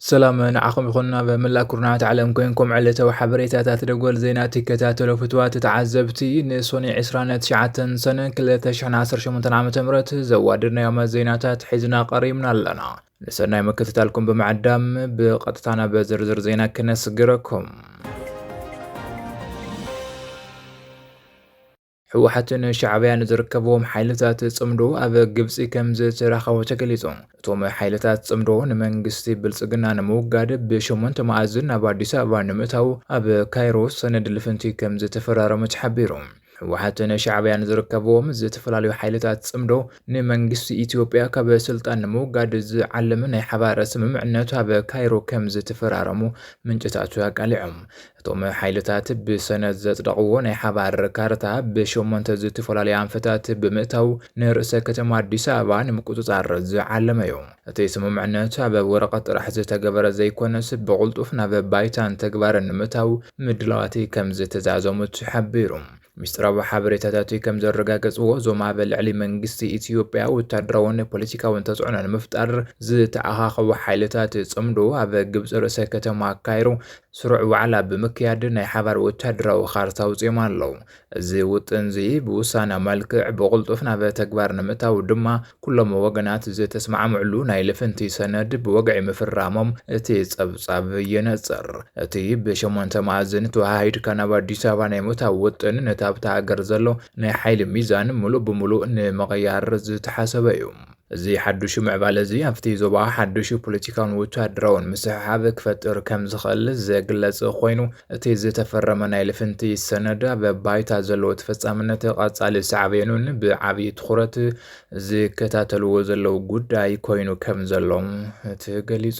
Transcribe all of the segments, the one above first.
ሰላም ንዓኹም ይኹን ናብ መላእ ኩርናዓት ዓለም ኮንኩም ዕለታዊ ሓበሬታታት ደጎል ዜና ትከታተሉ ፍትዋት ተዓዘብቲ ንሶኒ 29 ሰነ 2018 ዓ ም ዘዋድድናዮም ዜናታት ሒዝና ቀሪብና ኣለና ንሰናይ ምክትታልኩም ብምዕዳም ብቐጥታ ናብ ዝርዝር ዜና ክነስግረኩም። ህወሓትን ሻዕብያን ዝርከብዎም ሓይልታት ጽምዶ ኣብ ግብፂ ከም ዝተራኸቡ ተገሊጹ። እቶም ሓይልታት ጽምዶ ንመንግስቲ ብልጽግና ንምውጋድ ብሸሞንተ መኣዝን ናብ ኣዲስ ኣበባ ንምእታው ኣብ ካይሮ ሰነድ ልፍንቲ ከም ዝተፈራረሙ ተሓቢሩ። ህወሓትን ሻዕቢያን ዝርከብዎም ዝተፈላለዩ ሓይልታት ጽምዶ ንመንግስቲ ኢትዮጵያ ካብ ስልጣን ንምውጋድ ዝዓለመ ናይ ሓባር ስምምዕነት ኣብ ካይሮ ከም ዝተፈራረሙ ምንጭታቱ ኣቃሊዖም። እቶም ሓይልታት ብሰነድ ዘጽደቕዎ ናይ ሓባር ካርታ ብሸሞንተ ዝተፈላለዩ ኣንፈታት ብምእታው ንርእሰ ከተማ ኣዲስ ኣበባ ንምቁጽጻር ዝዓለመ እዩ። እቲ ስምምዕነት ኣብ ወረቐት ጥራሕ ዝተገበረ ዘይኮነስ ብቕልጡፍ ናብ ባይታን ተግባርን ንምእታው ምድላዋት ከምዝተዛዘሙ ተሓቢሩ። ሚስጥራዊ ሓበሬታታት ከምዘረጋገፅዎ፣ እዞም ኣብ ልዕሊ መንግስቲ ኢትዮጵያ ወታደራውን ፖለቲካውን ተፅዕኖ ንምፍጣር ዝተኣኻኸቡ ሓይልታት ፅምዶ ኣብ ግብፂ ርእሰ ከተማ ካይሮ ስሩዕ ዋዕላ ብምክያድ ናይ ሓባር ወታደራዊ ካርታ ኣውፂኦም ኣለው። እዚ ውጥንዚ ብውሳነ መልክዕ ብቕልጡፍ ናብ ተግባር ንምእታው ድማ ኩሎም ወገናት ዝተስማዕምዕሉ ናይ ልፍንቲ ሰነድ ብወግዒ ምፍራሞም እቲ ጸብጻብ የነጽር። እቲ ብሸሞንተ መኣዝን ተወሃሂድካ ናብ ኣዲስ ኣበባ ናይ ምእታው ውጥን ነቲ ኣብታ ሃገር ዘሎ ናይ ሓይሊ ሚዛን ምሉእ ብምሉእ ንምቕያር ዝተሓሰበ'ዩ። እዚ ሓዱሽ ምዕባለ እዚ ኣብቲ ዞባ ሓዱሽ ፖለቲካውን ወተሃደራውን ምስሕሓብ ክፈጥር ከም ዝኽእል ዘግለጸ ኮይኑ እቲ ዝተፈረመ ናይ ልፍንቲ ሰነድ ኣብ ባይታ ዘለዎ ተፈጻምነት ቐጻሊ ሳዕቤኑን ብዓብዪ ትኹረት ዝከታተልዎ ዘለዉ ጉዳይ ኮይኑ ከም ዘሎ ተገሊጹ።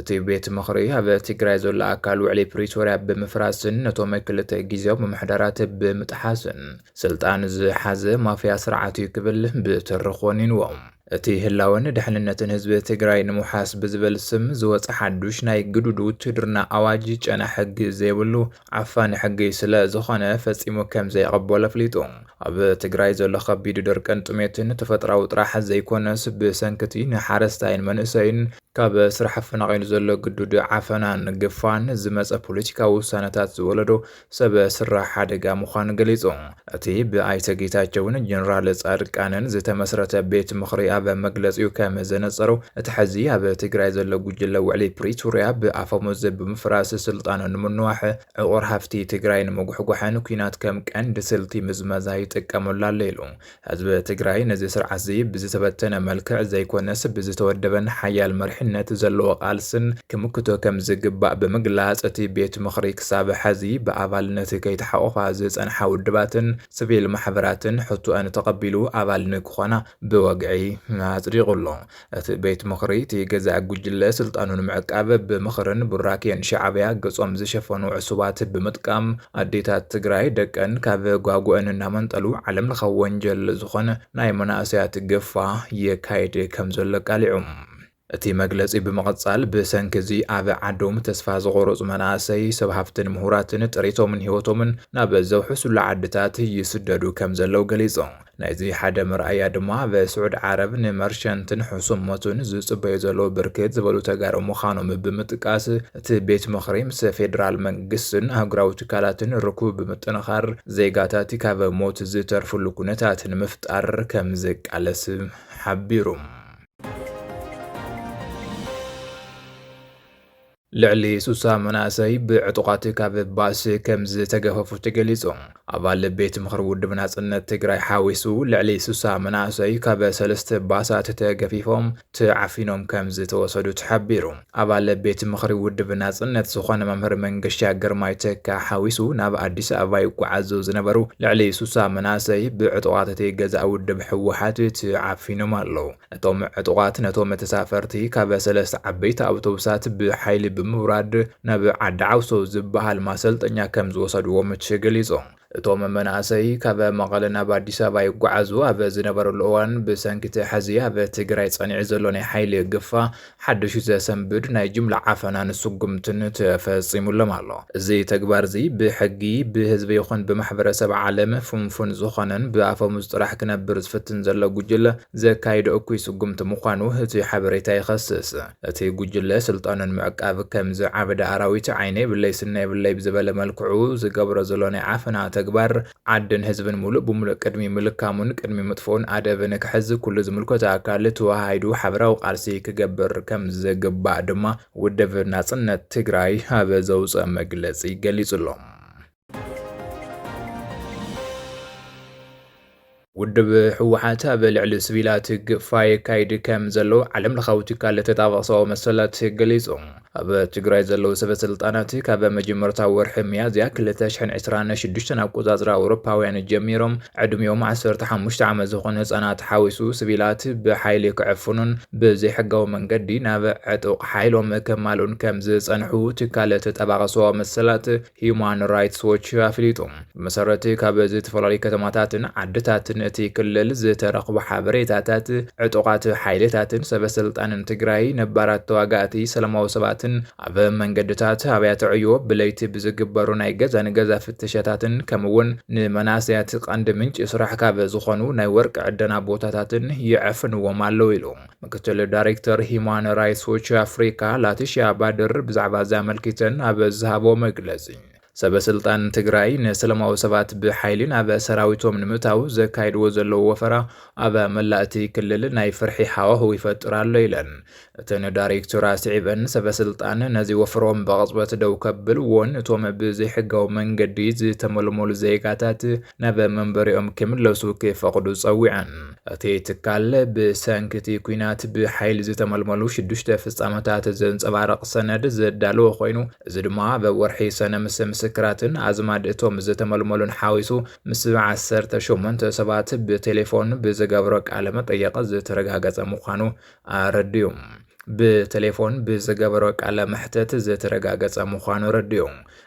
እቲ ቤት ምኽሪ ኣብ ትግራይ ዘሎ ኣካል ውዕሊ ፕሪቶርያ ብምፍራስን ነቶም ክልተ ግዜያዊ ምምሕዳራት ብምጥሓስን ስልጣን ዝሓዘ ማፍያ ስርዓት እዩ ክብል ብትሪ ኮኒንዎ። እቲ ህላወን ድሕንነትን ህዝቢ ትግራይ ንምውሓስ ብዝብል ስም ዝወፀ ሓዱሽ ናይ ግዱድ ውትህድርና ኣዋጅ ጨና ሕጊ ዘይብሉ ዓፋኒ ሕጊ ስለ ዝኾነ ፈፂሙ ከም ዘይቕበሎ ኣፍሊጡ። ኣብ ትግራይ ዘሎ ከቢድ ድርቅን ጥሜትን ተፈጥራዊ ጥራሕ ዘይኮነስ ብሰንኪ እቲ ንሓረስታይን መንእሰይን ካብ ስራሕ ኣፈናቒሉ ዘሎ ግዱድ ዓፈናን ግፋን ዝመፀ ፖለቲካዊ ውሳነታት ዝወለዶ ሰብ ስራሕ ሓደጋ ምዃኑ ገሊፁ። እቲ ብኣይተ ጌታቸውን ጀነራል ፃድቃንን ዝተመስረተ ቤት ምኽሪ ኣብ መግለፂኡ ከም ዘነፀሮ እቲ ሐዚ ኣብ ትግራይ ዘሎ ጉጅለ ውዕሊ ፕሪቶርያ ብኣፈሙዝ ብምፍራስ ስልጣኑ ንምንዋሕ ዕቑር ሃፍቲ ትግራይ ንምጉሕጓሕን ኲናት ከም ቀንዲ ስልቲ ምዝመዛ ይጥቀመሉ ኣሎ ኢሉ። ህዝቢ ትግራይ ነዚ ስርዓትዚ ብዝተበተነ መልክዕ ዘይኮነስ ብዝተወደበን ሓያል መሪሕነት ዘለዎ ቃልስን ክምክቶ ከምዝግባእ ብምግላፅ እቲ ቤት ምኽሪ ክሳብ ሐዚ ብኣባልነት ከይተሓቖፋ ዝፀንሓ ውድባትን ስቪል ማሕበራትን ሕቶኣን ተቐቢሉ ኣባል ንክኾና ብወግዒ ኣፅዲቑ ኣሎ። እቲ ቤት ምኽሪ እቲ ገዛኢ ጉጅለ ስልጣኑ ንምዕቃብ ብምኽርን ቡራኬን ሻዕብያ ገፆም ዝሸፈኑ ዕሱባት ብምጥቃም ኣዴታት ትግራይ ደቀን ካብ ጓጉኤን እናመንጠሉ ዓለም ለኻዊ ወንጀል ዝኾን ናይ መናእሰያት ግፋ የካይድ ከም ዘሎ ኣቃሊዑ። እቲ መግለፂ ብምቕፃል ብሰንኪ እዚ ኣብ ዓዶም ተስፋ ዝቖረፁ መናእሰይ፣ ሰብ ሃፍትን ምሁራትን ጥሪቶምን ህይወቶምን ናብ ዘውሕሱሉ ዓድታት ይስደዱ ከም ዘለው ገሊፁ። ናይዚ ሓደ መርኣያ ድማ ኣብ ስዑድ ዓረብ ንመርቸንትን ሕሱም ሞትን ዝጽበዩ ዘለዉ ብርክት ዝበሉ ተጋሩ ምዃኖም ብምጥቃስ እቲ ቤት ምኽሪ ምስ ፌደራል መንግስትን ኣህጉራዊ ትካላትን ርኩብ ብምጥንኻር ዜጋታት ካብ ሞት ዝተርፍሉ ኩነታት ንምፍጣር ከም ዝቃለስ ሓቢሩ። ልዕሊ ስሳ መናእሰይ ብዕጡቓት ካብ ባእሲ ከምዝተገፈፉ ተገሊፁ። ኣባል ቤት ምኽሪ ውድብ ናፅነት ትግራይ ሓዊሱ ልዕሊ ስሳ መናእሰይ ካብ ሰለስተ ባሳት ተገፊፎም ተዓፊኖም ከምዝተወሰዱ ተሓቢሩ። ኣባል ቤት ምኽሪ ውድብ ናፅነት ዝኾነ መምህር መንገሻ ግርማይ ተካ ሓዊሱ ናብ ኣዲስ ኣበባ ይጓዓዙ ዝነበሩ ልዕሊ ስሳ መናእሰይ ብዕጡቓት እቲ ገዛኢ ውድብ ህወሓት ተዓፊኖም ኣለው። እቶም ዕጡቓት ነቶም ተሳፈርቲ ካብ ሰለስተ ዓበይቲ ኣውቶቡሳት ብሓይሊ ብምውራድ ናብ ዓዲ ዓውሶ ዝበሃል ማሰልጠኛ ከም ዝወሰድዎም እቲ ገሊጹ። እቶም መናእሰይ ካብ መቐለ ናብ ኣዲስ ኣበባ ይጓዓዙ ኣብ ዝነበርሉ እዋን ብሰንኪ እቲ ሕዚ ኣብ ትግራይ ጸኒዑ ዘሎ ናይ ሓይሊ ግፋ ሓድሽ ዘሰንብድ ናይ ጅምላ ዓፈናን ስጉምትን ተፈጺሙሎም ኣሎ። እዚ ተግባር'ዚ ብሕጊ፣ ብህዝቢ ይኹን ብማሕበረሰብ ዓለም ፍንፉን ዝኾነን ብኣፈሙዝ ጥራሕ ክነብር ዝፍትን ዘሎ ጉጅለ ዘካይዶ እኩይ ስጉምቲ ምዃኑ እቲ ሓበሬታ ይኸስስ። እቲ ጉጅለ ስልጣኑ ንምዕቃብ ከም ዝዓበደ ኣራዊት ዓይነ የብለይ ስኒ የብለይ ብዝበለ መልክዑ ዝገብሮ ዘሎ ናይ ዓፈና ተግባር፣ ዓድን ህዝብን ሙሉእ ብሙሉእ ቅድሚ ምልካሙን ቅድሚ ምጥፍኡን ኣደብ ንክሕዝ ኩሉ ዝምልከቶ ኣካል ተወሃሂዱ ሓበራዊ ቃልሲ ክገብር ከምዝግባእ ድማ ውድብ ናፅነት ትግራይ ኣብ ዘውፀኦ መግለፂ ገሊፁ'ሎ። ውድብ ህወሓት ኣብ ልዕሊ ስቪላት ግፋ የካይድ ከም ዘሎ ዓለም ለኻዊ ትካል ተጣባቒ ሰብኣዊ መሰላት ገሊጹ። ኣብ ትግራይ ዘለዉ ሰበ ስልጣናት ካብ መጀመርታ ወርሒ ሚያዝያ ክልተ ሽሕን ዕስራን ሽዱሽተን ኣቆጻጽራ ኣውሮፓውያን ጀሚሮም ዕድሚኦም ዓሰርተ ሓሙሽተ ዓመት ዝኾኑ ህጻናት ሓዊሱ ስቪላት ብሓይሊ ክዕፍኑን ብዘይሕጋዊ መንገዲ ናብ ዕጡቕ ሓይሎም ከማልኡን ከም ዝጸንሑ ትካል ተጣባቒ ሰብኣዊ መሰላት ህዩማን ራይትስ ዎች ኣፍሊጡ። ብመሰረት ካብ ዝተፈላለዩ ከተማታትን ዓድታትን እቲ ክልል ዝተረኽቡ ሓበሬታታት ዕጡቓት ሓይልታትን ሰበስልጣንን ትግራይ ነባራት ተዋጋእቲ ሰላማዊ ሰባትን ኣብ መንገድታት ኣብያተ ዕዮ ብለይቲ ብዝግበሩ ናይ ገዛ ንገዛ ፍተሻታትን ከምኡውን ንመናእሰያት ቀንዲ ምንጪ ስራሕ ካብ ዝኾኑ ናይ ወርቂ ዕደና ቦታታትን ይዕፍንዎም ኣለዉ ኢሉ። ምክትል ዳይሬክተር ሂማን ራይትስ ዎች ኣፍሪካ ላቲሽያ ባድር ብዛዕባ እዚ ኣመልኪተን ኣብ ዝሃቦ መግለጺ ሰበ ስልጣን ትግራይ ንሰላማዊ ሰባት ብሓይሊ ናብ ሰራዊቶም ንምታው ዘካይድዎ ዘለዉ ወፈራ ኣብ መላእ እቲ ክልል ናይ ፍርሒ ሃዋህው ይፈጥር ኣሎ ኢለን። እተን ዳይሬክተር ኣስዒበን ሰበ ስልጣን ነዚ ወፍሮም ብቕጽበት ደው ከብልዎን እቶም ብዘይሕጋዊ መንገዲ ዝተመልመሉ ዜጋታት ናብ መንበሪኦም ክምለሱ ክፈቕዱ ጸዊዐን። እቲ ትካል ብሰንኪ እቲ ኲናት ብሓይሊ ዝተመልመሉ ሽዱሽተ ፍጻመታት ዘንጸባርቕ ሰነድ ዘዳለወ ኮይኑ እዚ ድማ ኣብ ወርሒ ሰነ ምስ ምስክራትን ኣዝማድ እቶም ዝተመልመሉን ሓዊሱ ምስ ዓሰርተ ሸሞንተ ሰባት ብቴሌፎን ብዝገብሮ ቃለ መጠየቕ ዝተረጋገጸ ምዃኑ ኣረድኡ። ብቴሌፎን ብዝገበሮ ቃለ መሕተት ዝተረጋገጸ ምዃኑ ኣረድኡ።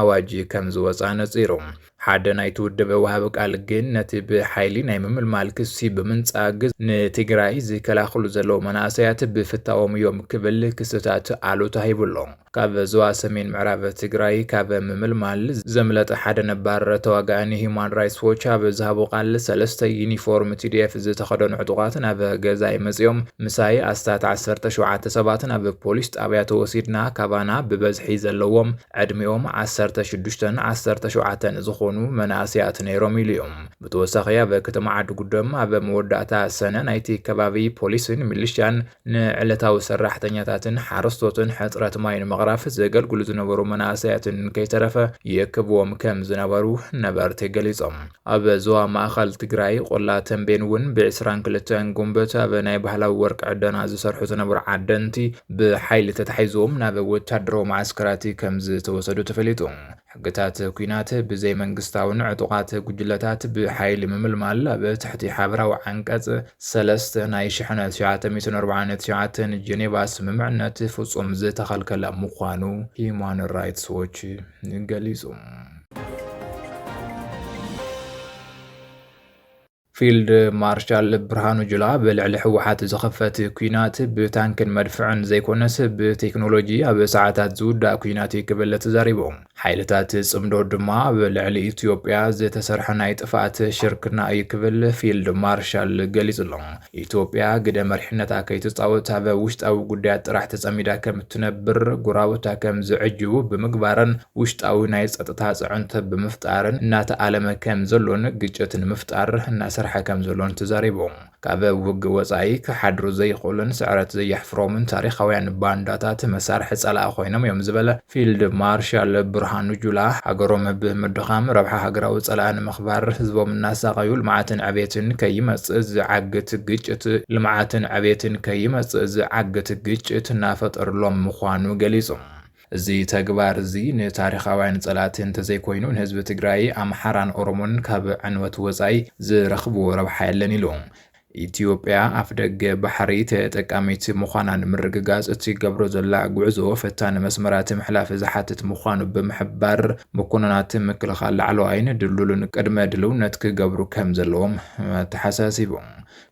ኣዋጅ ከም ዝወጽኣ ኣነጺሩ። ሓደ ናይቲ ውድብ ወሃቢ ቃል ግን ነቲ ብሓይሊ ናይ ምምልማል ክሲ ብምንጻግ ንትግራይ ዝከላኸሉ ዘለዉ መናእሰያት ብፍታዎም እዮም ክብል ክስታት ኣሉታ ሂቡ ኣሎ። ካብ ዞባ ሰሜን ምዕራብ ትግራይ ካብ ምምልማል ዘምለጠ ሓደ ነባር ተዋጋኢ ንሂዩማን ራይትስ ዎች ኣብ ዝሃቦ ቃል ሰለስተ ዩኒፎርም ቲዲኤፍ ዝተኸደኑ ዕጡቓት ናብ ገዛይ መጺኦም ምሳይ ኣስታት ዓሰርተ ሸውዓተ ሰባት ናብ ፖሊስ ጣብያ ተወሲድና ካባና ብበዝሒ ዘለዎም ዕድሚኦም ዓሰርተ ሽዱሽተን ዓሰርተ ሸውዓተን ዝኾኑ መናእሰያት ነይሮም ኢሉ እዩ። ብተወሳኺ ኣብ ከተማ ዓድጉደም ኣብ መወዳእታ ሰነ ናይቲ ከባቢ ፖሊስን ሚሊሻን ንዕለታዊ ሰራሕተኛታትን ሓረስቶትን ሕፅረት ማይ ንምቕራፍ ዘገልግሉ ዝነበሩ መናእሰያትን ከይተረፈ ይእክብዎም ከም ዝነበሩ ነበርቲ ገሊፆም። ኣብ ዞባ ማእኸል ትግራይ ቆላ ተንቤን እውን ብዕስራን ክልተን ጉንበት ኣብ ናይ ባህላዊ ወርቂ ዕደና ዝሰርሑ ዝነበሩ ዓደንቲ ብሓይሊ ተታሒዞም ናብ ወታደራዊ መዓስከራት ከም ዝተወሰዱ ተፈሊጡ። ሕግታት ኩናት ብዘይ መንግስታውን ዕጡቓት ጉጅለታት ብሓይሊ ምምልማል ኣብ ትሕቲ ሓበራዊ ዓንቀጽ ሰለስተ ናይ ሽሕነ ትሽዓተ ሚእትን ኣርብዓን ትሽዓተን ጀኔቫ ስምምዕነት ፍጹም ዝተኸልከለ ምዃኑ ሂዩማን ራይትስ ዎች ገሊጹ። ፊልድ ማርሻል ብርሃኑ ጁላ ብልዕሊ ህወሓት ዝኸፈት ኩናት ብታንክን መድፍዕን ዘይኮነስ ብቴክኖሎጂ ኣብ ሰዓታት ዝውዳእ ኩናት እዩ ክብል ተዛሪቡ። ሓይልታት ጽምዶ ድማ ኣብ ልዕሊ ኢትዮጵያ ዝተሰርሐ ናይ ጥፍኣት ሽርክና እዩ ክብል ፊልድ ማርሻል ገሊጹ ኣሎ። ኢትዮጵያ ግደ መሪሕነታ ከይትፃወት ኣብ ውሽጣዊ ጉዳያት ጥራሕ ተፀሚዳ ከምትነብር፣ ጎረባብታ ከምዝዕጅቡ ብምግባርን ውሽጣዊ ናይ ፀጥታ ፅዕንቶ ብምፍጣርን እናተኣለመ ከምዘሎን ግጭት ንምፍጣር እናሰርሐ ከምዘሎን ተዛሪቦም። ካብ ውግእ ወፃኢ ክሓድሩ ዘይኽእሉን ስዕረት ዘየሕፍሮምን ታሪኻውያን ባንዳታት መሳርሒ ፀላኢ ኮይኖም እዮም ዝበለ ፊልድ ማርሻል ብርሃኑ ጁላ፣ ሃገሮም ብ ምድኻም ረብሓ ሃገራዊ ጸላኢ ንምኽባር ህዝቦም እናሳቐዩ ልምዓትን ዕቤትን ከይመጽእ ዝዓግት ግጭት ልምዓትን ዕቤትን ከይመጽእ ዝዓግት ግጭት እናፈጠርሎም ምዃኑ ገሊጾም። እዚ ተግባር እዚ ንታሪኻውያን ጸላእቲ እንተዘይኮይኑ ንህዝቢ ትግራይ፣ ኣምሓራን ኦሮሞን ካብ ዕንወት ወጻኢ ዝረኽብዎ ረብሓ የለን ኢሉ። ኢትዮጵያ ኣፍደገ ባሕሪ ተጠቃሚት ምዃና ንምርግጋፅ እትገብሮ ዘላ ጉዕዞ ፈታኒ መስመራት ምሕላፍ ዝሓትት ምዃኑ ብምሕባር፣ መኮንናት ምክልኻል ላዕለዋይን ድልዱልን ቅድመ ድልውነት ክገብሩ ከምዘለዎም ኣተሓሳሲቡ።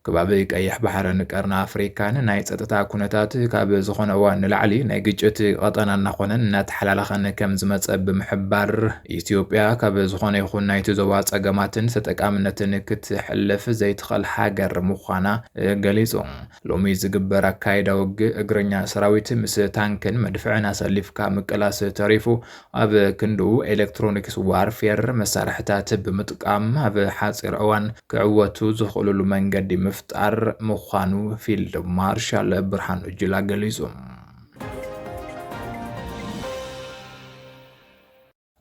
ከባቢ ቀይሕ ባሕርን ቀርኒ ኣፍሪካን ናይ ፀጥታ ኩነታት ካብ ዝኾነ እዋን ንላዕሊ ናይ ግጭት ቐጠና እናኾነን እናተሓላለኸን ከምዝመፀ ብምሕባር፣ ኢትዮጵያ ካብ ዝኾነ ይኹን ናይቲ ዞባ ፀገማትን ተጠቃምነትን ክትሕልፍ ዘይትኸል ሃገር ምዃና ገሊፁ። ሎሚ ዝግበር ኣካይዳ ውግእ እግረኛ ሰራዊት ምስ ታንክን መድፍዕን ኣሰሊፍካ ምቅላስ ተሪፉ ኣብ ክንድኡ ኤሌክትሮኒክስ ዋርፌር መሳርሕታት ብምጥቃም ኣብ ሓፂር እዋን ክዕወቱ ዝኽእሉሉ መንገዲ ምፍጣር ምዃኑ ፊልድ ማርሻል ብርሃኑ ጁላ ገሊፁ።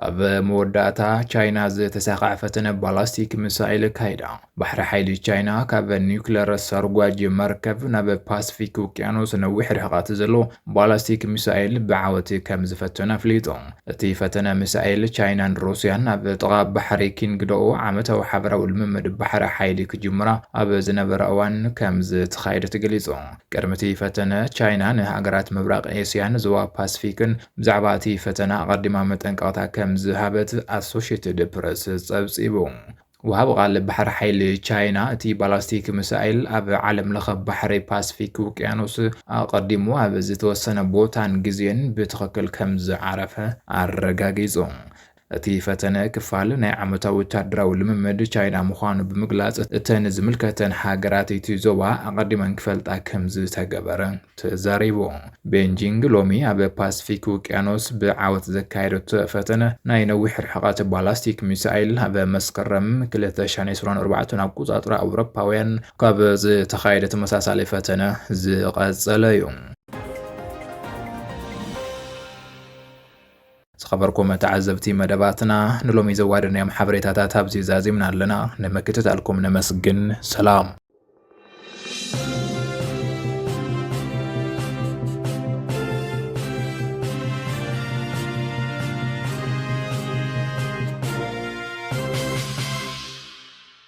ኣብ መወዳእታ ቻይና ዝተሳኽዐ ፈተነ ባላስቲክ ሚሳይል ኣካይዳ። ባሕሪ ሓይሊ ቻይና ካብ ኒውክለር ሰርጓጅ መርከብ ናብ ፓስፊክ ውቅያኖስ ነዊሕ ርሕቐት ዘሎ ባላስቲክ ሚሳይል ብዓወት ከም ዝፈተነ ኣፍሊጡ። እቲ ፈተነ ሚሳይል ቻይናን ሩስያን ኣብ ጥቓ ባሕሪ ኪንግዶኦ ዓመታዊ ሓበራዊ ልምምድ ባሕሪ ሓይሊ ክጅምራ ኣብ ዝነበራ እዋን ከም ዝተኻየደ ተገሊጹ። ቅድሚ እቲ ፈተነ ቻይና ንሃገራት ምብራቕ ኤስያን ዞባ ፓስፊክን ብዛዕባ እቲ ፈተና ኣቐዲማ መጠንቀቕታ ከም ዝሃበት ኣሶሸትድ ፕረስ ጸብጺቡ። ወሃቢ ቓል ባሕሪ ሓይሊ ቻይና፣ እቲ ባላስቲክ ሚሳይል ኣብ ዓለምለኸ ባሕሪ ፓስፊክ ውቅያኖስ ኣቐዲሙ ኣብ ዝተወሰነ ቦታን ግዜን ብትኽክል ከም ዝዓረፈ ኣረጋጊጹ። እቲ ፈተነ ክፋል ናይ ዓመታዊ ወታደራዊ ልምምድ ቻይና ምዃኑ ብምግላፅ እተን ዝምልከተን ሃገራት እቲ ዞባ ኣቐዲመን ክፈልጣ ከምዝተገበረ ተዛሪቡ። ቤንጂንግ ሎሚ ኣብ ፓስፊክ ውቅያኖስ ብዓወት ዘካየደቶ ፈተነ ናይ ነዊሕ ርሕቐት ባላስቲክ ሚሳይል ኣብ መስከረም ክልተ ሽሕን ዕስራን ኣርባዕተን ኣቆፃፅራ ኣውሮፓውያን ካብ ዝተኻየደ ተመሳሳሊ ፈተነ ዝቐፀለ እዩ። ዝኸበርኩም ተዓዘብቲ መደባትና ንሎሚ ዘዋደናዮም ሓበሬታታት ኣብዚ ዛዚምና ኣለና። ንምክትታልኩም ነመስግን። ሰላም